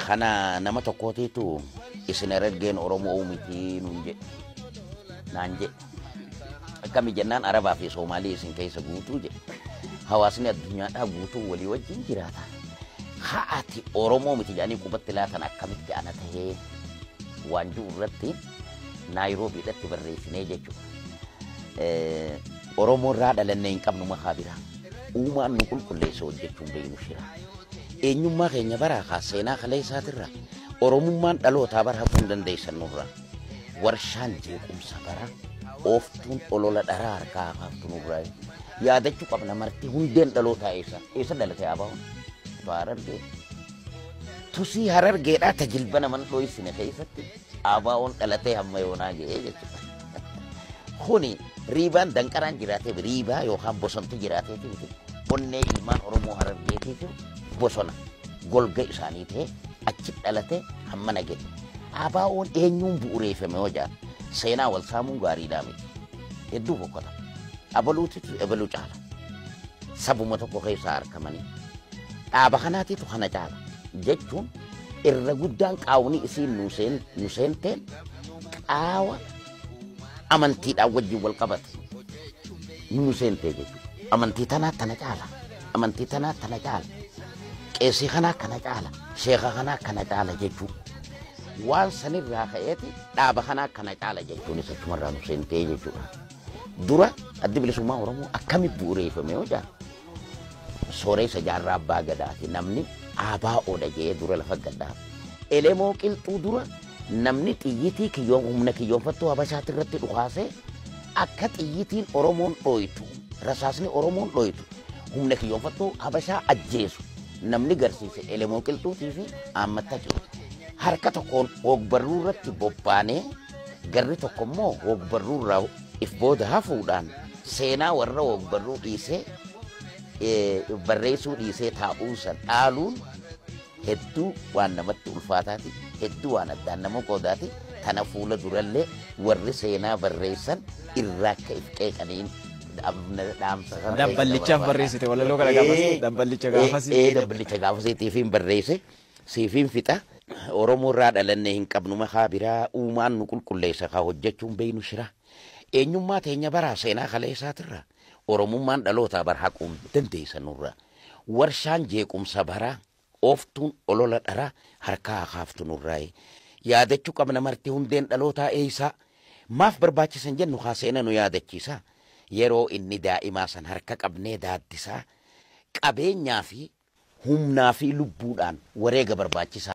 Kana nama tokkootiitu isin ergeen Oromoo mitii nuun jedhe. Naan jedhe. Akkami jennaan Arabaa fi Soomaalii isin keessa guutuu jedhe. Hawaasni addunyaadhaa guutuu walii wajjin jiraata. Haati Oromoo miti jedhanii qubatti laatan akkamitti ana tahee waan jiru irratti Naayiroobii irratti barreessinee jechuudha. Oromoo irraa dhalannee hin qabnu makaa biraa. Uumaan nu qulqulleessa hojjechuun beeknu shira. Eenyummaa keenya baraa kaa seenaa kaleessaatirra Oromummaan dhalootaa bar hafuu hin dandeessan nurra. Warshaan jeequmsa bara ooftuun olola dharaa harkaa hakaaftu nurra. Yaadachuu qabna marti hundeen dhalootaa eessa eessa dhalatee abaa'uun. Baarargee. Tusii harargeedhaa tajilba naman dho'isine keessatti. ABOn dhalatee hamma yoonaa ga'ee jechuudha. Kuni riibaan danqaraan jiraatee riibaa yookaan bosontu jiraateeti miti. Onnee ilmaan Oromoo Harargeetiitu bosona golga isaanii ta'ee achi dhalatee hamma naga'e. ABOn eenyuun bu'ureeffame yoo jedhan seenaa wal saamuun gaariidhaa miti. Hedduu boqqota. Abaluutitu ebaluu caala. Sabuma tokko keessaa argamanii dhaaba kanaatitu kana caala jechuun irra guddaan qaawni isiin nu seen- nu seenteen qaawa amantiidhaan wajjin wal qabate nu seentee jechuudha. Amantii tanaa tana caala. Amantii tanaa tana caala. Qeesii kanaa kana caala. Sheeka kanaa kana caala jechuudha. Waan sanirraa ka'eeti dhaaba kanaa kana caala jechuun isa cumarraa nu seentee jechuudha. Dura addi bilisummaa Oromoo akkamitti bu'uureeffame yoo jedhan Sooreysa Jaarraa Abbaa Gadaati namni ABO dha jedhee dura lafa gad dhaabe. Elemoo Qilxuu dura namni xiyyitii kiyyoo humna kiyyoonfattuu Habashaatti irratti dhukaasee akka xiyyitiin Oromoon dhooytu rasaasni Oromoon dhooytu humna kiyyoonfattuu Habashaa ajjeesu namni garsiise Elemoo Qilxuutii fi Aammatta Qilxuu. Harka tokkoon hoogbarruu irratti bobbaanee garri tokko immoo hoogbarruu irraa if booda hafuudhaan Seenaa warra ogbarruu dhiisee eh, barreessuu dhiisee taa'uu san dhaaluun hedduu waan namatti ulfaataati hedduu waan addaan nama qoodaati kana fuula durallee warri seenaa barreessan irraa akka if qeeqaniin dhaamna- dhaamsa kana Dabballichaaf barreessite walaloo kana gaafas Eh, dabballicha eh, gaafas. eh, dabballicha gaafasiitiifiin barreesse siifiin fixa Oromoo irraa dhalannee hin qabnu makaa biraa uumaan nu qulqulleessa kaa hojjechuun beeynu shiraa. Eenyummaa teenya baraaf seenaa kaleessaatirraa Oromummaan dhalootaa bara haquun dandeessa nurra. Warshaan jeequmsa baraa, ooftuun olola dharaa harkaa haa kaaftu nurraayi. Yaadachuu qabna marti hundeen dhalootaa eessaa? Maaf barbaachisa hin jennu kaa seena nu yaadachiisaa. Yeroo inni daa'imaa san harka qabnee daaddisaa. Qabeenyaa fi humnaa fi lubbuudhaan wareega barbaachisaa.